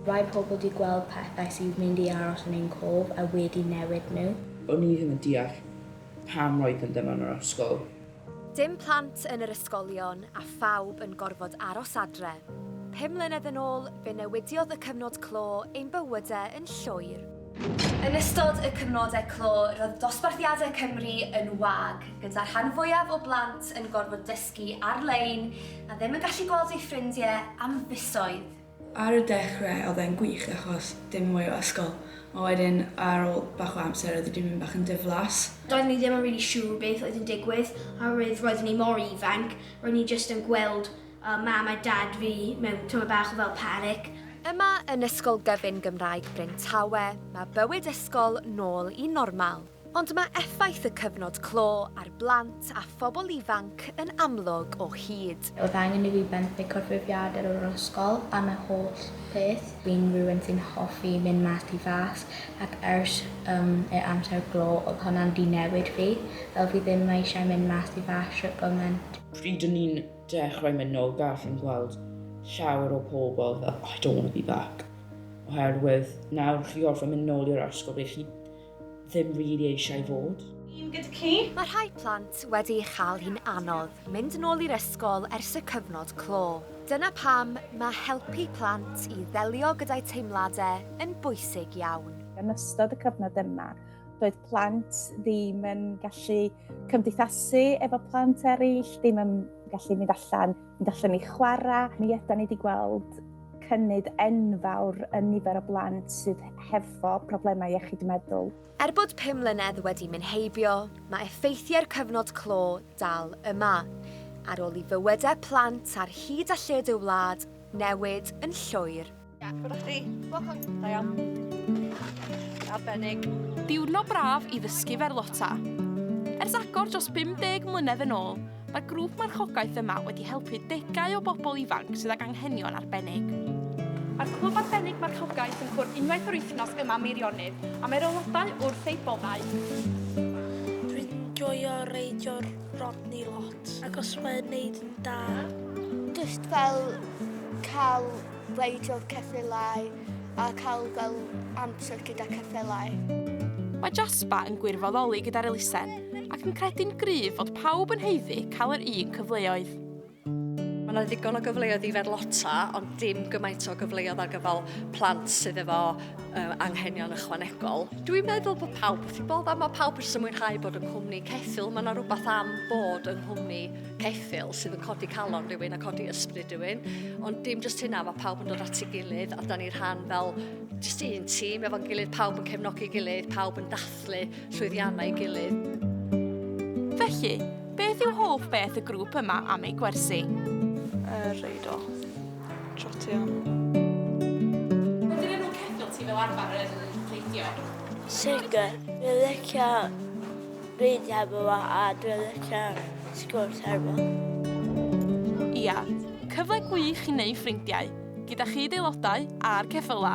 Mae pobl di gweld pethau sydd mynd i aros yn ein cof a wedi newid nhw. O'n i ddim yn deall pam roedden nhw yn yr ysgol. Dim plant yn yr ysgolion a phawb yn gorfod aros adre. Pum mlynedd yn ôl, fe newidiodd y cyfnod clo ein bywyde yn llwyr. Yn ystod y cyfnodau clo, roedd dosbarthiadau Cymru yn wag, gyda'r rhan fwyaf o blant yn gorfod dysgu ar-lein a ddim yn gallu gweld eu ffrindiau am fisoedd. Ar y dechre oedd e'n gwych achos dim mwy o ysgol, ond wedyn ar ôl bach o amser oedd e 'di mynd bach yn diflas. Doeddwn ni ddim yn rili siŵr beth oedd yn digwydd oherwydd roeddwn ni mor ifanc, roeddwn ni jyst yn gweld Mam a Dad fi mewn tamaid bach o fel panic. Yma yn Ysgol Gyfun Gymraeg Bryn Tawe, mae bywyd ysgol nôl i normal. Ond mae effaith y cyfnod clo ar blant a phobl ifanc yn amlwg o hyd. Oedd angen i fi benthyg corfforaethwyr o'r ysgol am y holl beth. Fi'n rywun sy'n hoffi mynd mas tu fas ac ers ym yr amser glo oedd hwnna'n di newid fi. Fel fi ddim eisiau mynd mas tu fas shwt gymaint. Pryd o'n i'n dechrau mynd nôl gall fi'n gweld llawer o pobl fel I don't want to be back oherwydd nawr chi orfod mynd nôl i'r ysgol ble chi ddim really eisiau fod. Ni'n gyda chi. Mae rhai plant wedi ei chael hi'n anodd mynd yn ôl i'r ysgol ers y cyfnod clo. Dyna pam mae helpu plant i ddelio gyda'i teimladau yn bwysig iawn. Yn ystod y cyfnod yma, doedd plant ddim yn gallu cymdeithasu efo plant eraill, ddim yn gallu mynd allan Mi ddallwn ni chwarae, mi yda ni wedi gweld cynnydd enfawr yn nifer o blant sydd hefo problemau iechyd meddwl. Er bod pum mlynedd wedi mynd heibio, mae effeithiau'r cyfnod clo dal yma. Ar ôl i fywydau plant ar hyd a lled y wlad newid yn llwyr, Ia, gwrdd chdi. Welcome. Da iawn. Arbennig. Diwrnod braf i ddysgu ferlota. Ers agor dros 50 mlynedd yn ôl, mae grŵp marchogaeth yma wedi helpu degau o bobl ifanc sydd ag anghenion arbennig. Mae'r clwb arbennig marchogaeth yn cwrdd unwaith yr wythnos yma Meirionydd a mae'r aelodau wrth eu boddau. Dwi'n joio reidio'r Rodney lot, ac os mae'n neud yn da. Just fel cael Gweithio ceffylau a cael gweld amser gyda ceffylau. Mae Jasper yn gwirfoddoli gyda'r elusen ac yn credu'n gryf fod pawb yn heiddi cael yr un cyfleoedd. Mae yna ddigon o gyfleoedd i ferlota, ond dim gymaint o gyfleoedd ar gyfer plant sydd efo uh, anghenion ychwanegol. Dwi'n meddwl bod pawb wrth i bob a mae pawb wrth ymwynhau bod yn cwmni ceffil. Mae yna rhywbeth am bod yn nghwmni ceffyl sydd yn codi calon rhywun a codi ysbryd rhywun, ond dim jyst hynna, mae pawb yn dod at ei gilydd a da ni'n rhan fel jyst un tîm efo'n gilydd, pawb yn cefnogi gilydd, pawb yn dathlu llwyddiannau gilydd. Felly, beth yw hoff beth y grŵp yma am eu gwersi? Er reidio. Trotio. Dyn nhw'n ceffyl ti fel arfer yn teithio? Sicr, fi'n licio Reid hefo fo a dwi licio sgwrs hefo. Ia, cyfle gwych i neu ffrindiau, gyda chyd-aelodau a'r ceffyla!